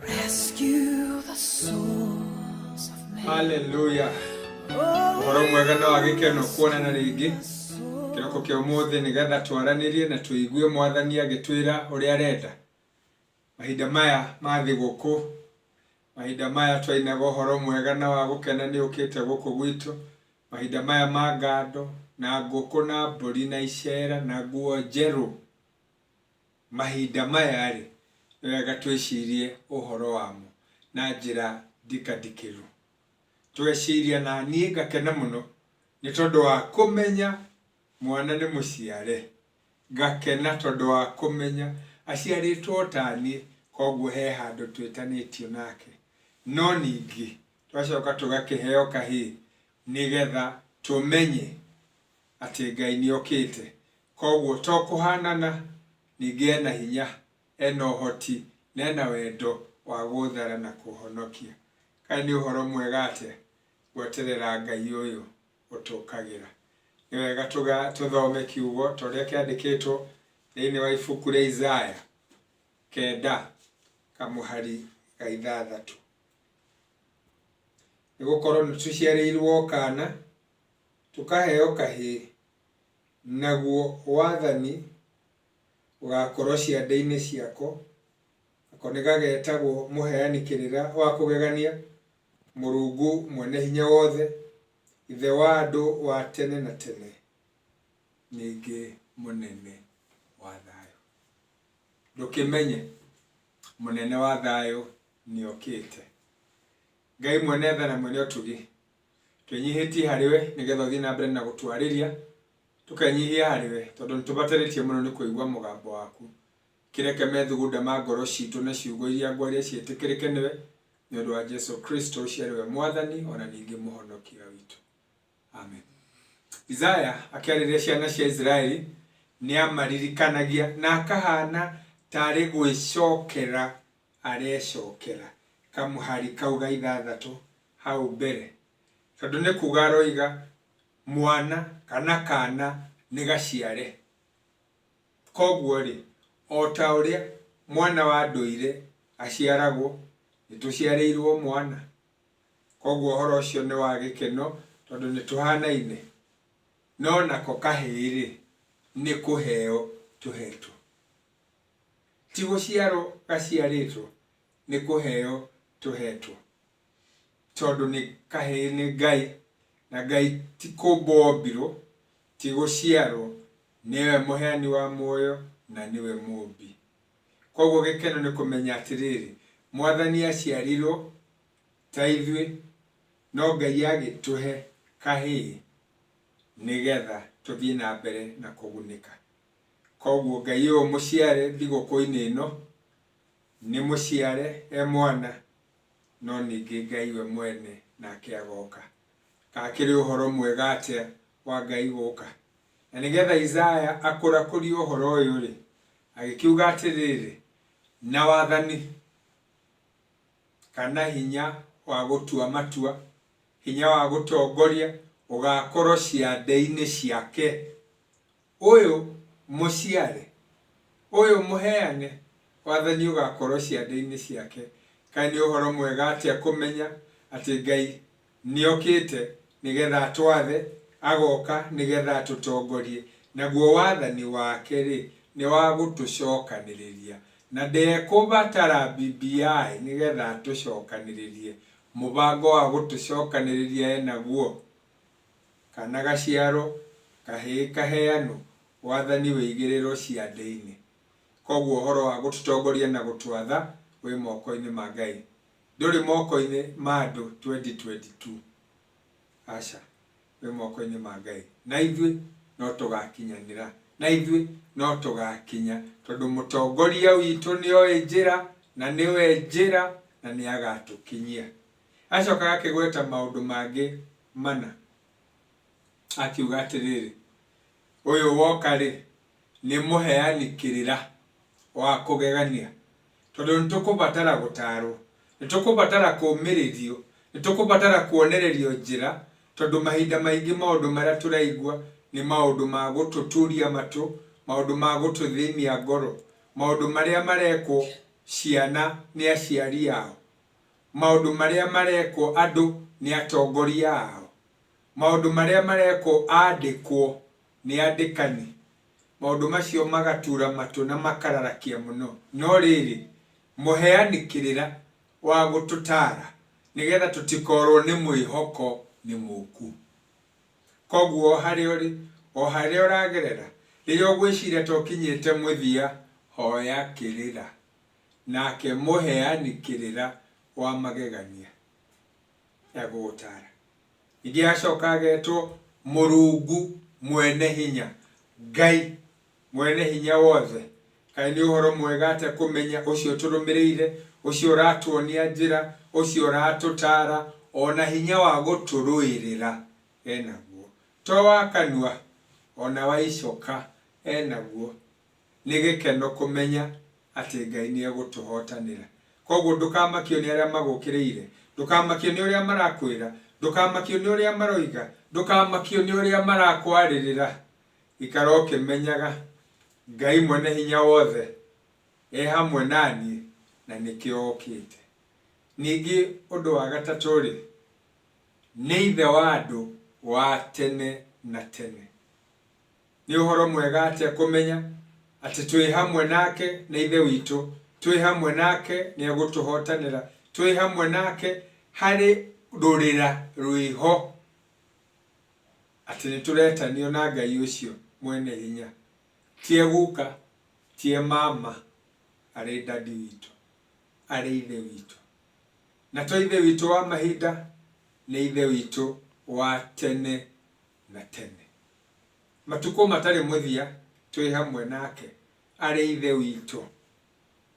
Rescue the souls of men. Hallelujah. Ũhoro mwega na wa gĩkeno kuonana rĩngĩ kĩroko kĩa ũmũthĩ nĩgetha twaranĩrie na tũigue mwathani agĩtwĩra ũrĩa arenda mahinda maya ma thigũkũ mahinda maya twainaga ũhoro mwega na wa gũkena nĩ ũkĩte gũkũ gwitũ mahinda maya ma ngando na ngũkũ na mbũri na icera na nguo njerũ Mahinda maya-rĩ, nĩ wega twĩcirie ũhoro wamo na njĩra ndikandikĩru. Tweciria na niĩ ngakena mũno nĩ tondũ wa kũmenya mwana nĩ mũciare, ngakena tondũ wa kũmenya aciarĩtwo o ta niĩ, koguo he handũ twĩtanĩtio nake. No ningĩ tũgacoka tũgakĩheo kahĩĩ nĩgetha tũmenye atĩ Ngai nĩokĩte Kwoguo to kũhaanana, ningĩ e na hinya, e na ũhoti, na e na wendo wa gũthara na kũhonokia. Kaĩ nĩ ũhoro mwega atĩa gweterera Ngai ũyũ ũtũũkagĩra! Nĩ wega tũthome kiugo ta ũrĩa kĩandĩkĩtwo thĩinĩ wa ibuku rĩa Isaya kenda kamũhari ga ithathatũ. Nĩ gũkorwo nĩ tũciarĩirwo kaana, tũkaheo kahĩĩ, Naguo wathani ũgaakorwo ciande-inĩ ciako, nako nĩ gageetagwo Mũheani Kĩrĩra wa Kũgegania, Mũrungu Mwene-Hinya-Wothe, Ithe wa andũ wa tene na tene, ningĩ Mũnene wa Thayũ. Ndũkĩmenye, Mũnene wa Thayũ nĩokĩte! Ngai Mwene-Tha na Mwene-Ũtugi Twĩnyihĩtie harĩ we nĩ getha ũthiĩ na mbere na gũtwarĩria, tũkenyihia harĩ we tondũ nĩ tũbatarĩtie mũno nĩ kũigua mũgambo waku. Kĩreke methugunda ma ngoro citũ na ciugo iria ngwaria ciĩtĩkĩrĩke nĩ we, nĩ ũndũ wa Jesu Kristo ũcio arĩ we Mwathani o na ningĩ Mũhonokia witũ. Amen. Isaya akĩarĩria ciana cia Isiraeli nĩ amaririkanagia na akahana tarĩ gwĩcokera arecokera kamũhari kau ga ithathatũ hau mbere, tondũ nĩ kuuga aroiga mwana kana kaana nĩ gaciare. Kwoguo-rĩ, o ta ũrĩa mwana wa ndũire aciaragwo, nĩ tũciarĩirwo mwana. Kwoguo ũhoro ũcio nĩ wa gĩkeno tondũ nĩ tũhanaine. No nako kahĩĩ-rĩ, nĩ kũheo tũhetwo. Ti gũciarwo gaciarĩtwo, nĩ kũheo tũhetwo. Tondũ nĩ kahĩĩ nĩ Ngai, na Ngai ti kũmbwo ombirwo, ti gũciarwo, nĩwe mũheani wa muoyo na nĩwe mũmbi. Koguo gĩkeno nĩ kũmenya atĩrĩrĩ, Mwathani aciarirwo ta ithuĩ, no Ngai agĩtũhe kahĩĩ nĩgetha tũthiĩ na mbere na kũgunĩka. Koguo Ngai ũyũ mũciare thigũkũ-inĩ ĩno, nĩ mũciare e mwana, no ningĩ Ngai we mwene nake agoka. Gakĩrĩ ũhoro mwega atĩa wa Ngai gũka! Na nĩgetha Isaya akũrakũrie ũhoro ũyũ-rĩ, agĩkiuga atĩrĩrĩ, Na wathani, kana hinya wa gũtua matua, hinya wa gũtongoria, ũgaakorwo ciande-inĩ ciake. Ũyũ mũciare, ũyũ mũheane wathani ũgaakorũo ciande-inĩ ciake. Kaĩ nĩ ũhoro mwega atĩa kũmenya atĩ Ngai nĩ okĩte nĩ getha atwathe, agoka nĩ getha atũtongorie, naguo wathani wake-rĩ, nĩ wa gũtũcokanĩrĩria, na ndekũbatara BBI nĩ getha atũcokanĩrĩrie. Mũbango wa gũtũcokanĩrĩria e naguo? kana gaciaro kahĩĩ kaheanwo wathani wĩ igĩrĩro cia thĩinĩ. Kwoguo ũhoro wa gũtũtongoria na gũtwatha wĩ moko-inĩ ma Ngai, ndũrĩ moko-inĩ ma andũ 2022. Aca, wĩ moko-inĩ ma Ngai. Na ithuĩ no tũgakinyanĩra, na ithuĩ no tũgakinya, tondũ Mũtongoria witũ nĩoĩ njĩra, na nĩwe njĩra, na nĩagatũkinyia. Acoka akĩgweta maũndũ mangĩ mana, akiuga atĩrĩrĩ, Ũyũ woka-rĩ, nĩ mũheani kĩrĩra wa kũgegania, tondũ nĩ tũkũbatara gũtaarwo, nĩ tũkũbatara kũũmĩrĩrio, nĩ tũkũbatara kuonererio njĩra, tondũ mahinda maingĩ maũndũ marĩa tũraigua nĩ maũndũ ma gũtũturia matũ, maũndũ ma gũtũthĩnia ngoro, maũndũ marĩa marekwo ciana nĩ aciari ao. maũndũ marĩa marekwo andũ nĩ atongoria ao, maũndũ marĩa marekwo aandĩkwo nĩ andĩkani, maũndũ macio magatuura matũ na makararakia mũno. No rĩrĩ, mũheani kĩrĩra wa gũtũtaara nĩ getha tũtikoorwo nĩ mwĩhoko nĩ mũũku. Kwoguo o harĩa ũrĩ, o harĩa ũragerera, rĩrĩa ũgwĩciria ta ũkinyĩte mũthia, hoya kĩrĩra. Nake mũheani kĩrĩra wa magegania na gũũtaara. Ningĩ agacoka agetwo Mũrungu Mwene Hinya, Ngai Mwene Hinya Wothe. Kaĩ nĩ ũhoro mwega atĩa kũmenya ũcio tũrũmĩrĩire, ũcio ũratuonia njĩra, ũcio ũratũtaara, o na hinya wa gũtũrũĩrĩra e naguo. To wa kanua, o na wa icoka e naguo, Nĩ gĩkeno kũmenya atĩ Ngai nĩ egũtũhotanĩra. Kwoguo ndũkamakio nĩ arĩa magũkĩrĩire, ndũkamakio nĩ ũrĩa marakwĩra, ndũkamakio nĩ ũrĩa maroiga, ndũkamakio nĩ ũrĩa marakwarĩrĩra, ikara ũkĩmenyaga Ngai Mwene-Hinya-Wothe e hamwe na niĩ na nĩkĩo okĩte. Ningĩ ũndũ wa gatatũ-rĩ, nĩ Ithe wa andũ wa tene na tene. Nĩ ũhoro mwega atĩa kũmenya atĩ twĩ hamwe nake na Ithe witũ, twĩ hamwe nake nĩ egũtũhotanĩra, twĩ hamwe nake harĩ rũrĩra rwĩho, atĩ nĩ tũretanio na Ngai ũcio mwene hinya. Ti e guka, ti e mama, arĩ Daddy witũ, arĩ Ithe witũ. Na to Ithe witũ wa mahinda, nĩ Ithe witũ wa tene na tene. Matukũ matarĩ mũthia twĩ hamwe nake arĩ Ithe witũ.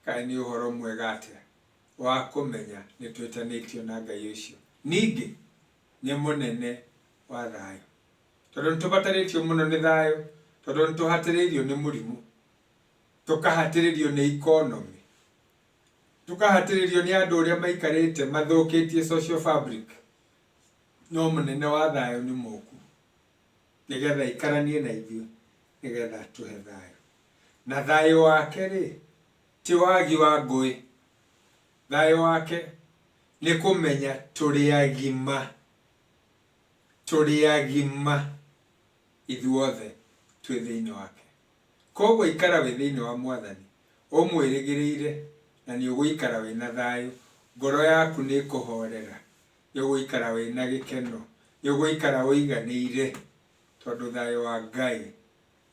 Kaĩ nĩ ũhoro mwega atĩa wa kũmenya nĩ twĩtanĩtio na Ngai ũcio! Ningĩ nĩ Mũnene wa thayũ. Tondũ nĩ tũbatarĩtio mũno nĩ thayũ, tondũ nĩ tũhatĩrĩirio nĩ mũrimũ, tũkahatĩrĩrio nĩ economy, tũkahatĩrĩrio nĩ andũ ũrĩa maikarĩte mathũkĩtie social fabric, No mũnene wa thayũ nĩ mũũku, nĩgetha aikaranie na ithuĩ, nĩgetha atũhe thayũ. Na thayũ wake-rĩ, ti wagi wa ngũĩ, thayũ wake nĩ kũmenya tũrĩ agima, tũrĩ agima ithuothe twĩ thĩiniĩ wake. Kuoguo ikara wĩ thĩiniĩ wa Mwathani, ũmwĩrĩgĩrĩire na nĩũgũikara wĩna thayũ, ngoro yaku nĩĩkũhorera. nĩ ũgũikara wĩna gĩkeno, nĩ ũgũikara ũiganĩire tondũ thayũ wa Ngai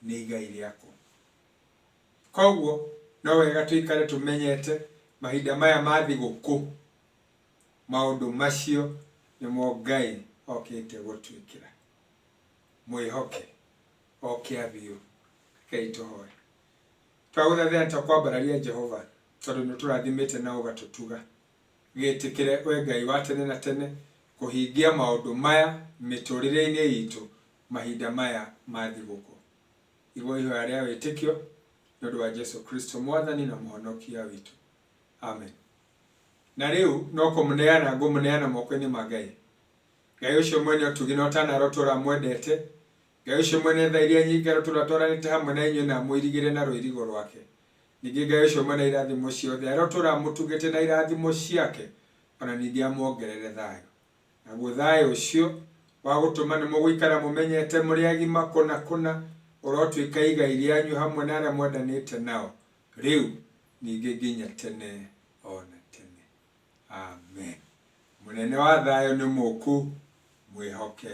nĩ igai rĩaku. Koguo no wega tũikare tũmenyete mahinda maya ma thigũkũ, maũndũ macio nĩmo Ngai okĩte gũtwĩkĩra. Mwĩhoke oke abiũ. Rekei tũhoe. Twagũthathaiya nĩ tũkwambararia Jehova tondũ nĩ ũtũrathimĩte na ũgatũtuga. Gĩtĩkĩre, Wee Ngai wa tene na tene, kũhingia maũndũ maya mĩtũũrĩre-inĩ itũ mahinda maya ma thigũkũ. Igua ihoya rĩa wĩtĩkio nĩ ũndũ wa Jesu Kristo, Mwathani na Mũhonokia witũ. Amen. Na rĩu no kũmũneana ngũmũneana moko-inĩ ma Ngai. Ngai ũcio mwene ũtugi na ũtanarotwo ũramwendete, Ngai ũcio mwene tha iria nyingĩ arotũũra atwaranĩte hamwe na inyuĩ na amũirigĩre na rũirigo rwake. Ningĩ Ngai ũcio mwene irathimo ciothe arotũũra amũtugĩte na irathimo ciake o na ningĩ amwongerere thayũ. Naguo thayũ ũcio wa gũtũma nĩ mũgũikara mũmenyete mũrĩ agima kũna kũna ũrotuĩka igai rĩanyu hamwe na arĩa mwendanĩte nao rĩu ningĩ nginya tene o na tene. Amen. Mũnene wa thayũ nĩ mũũku. Mwĩhoke.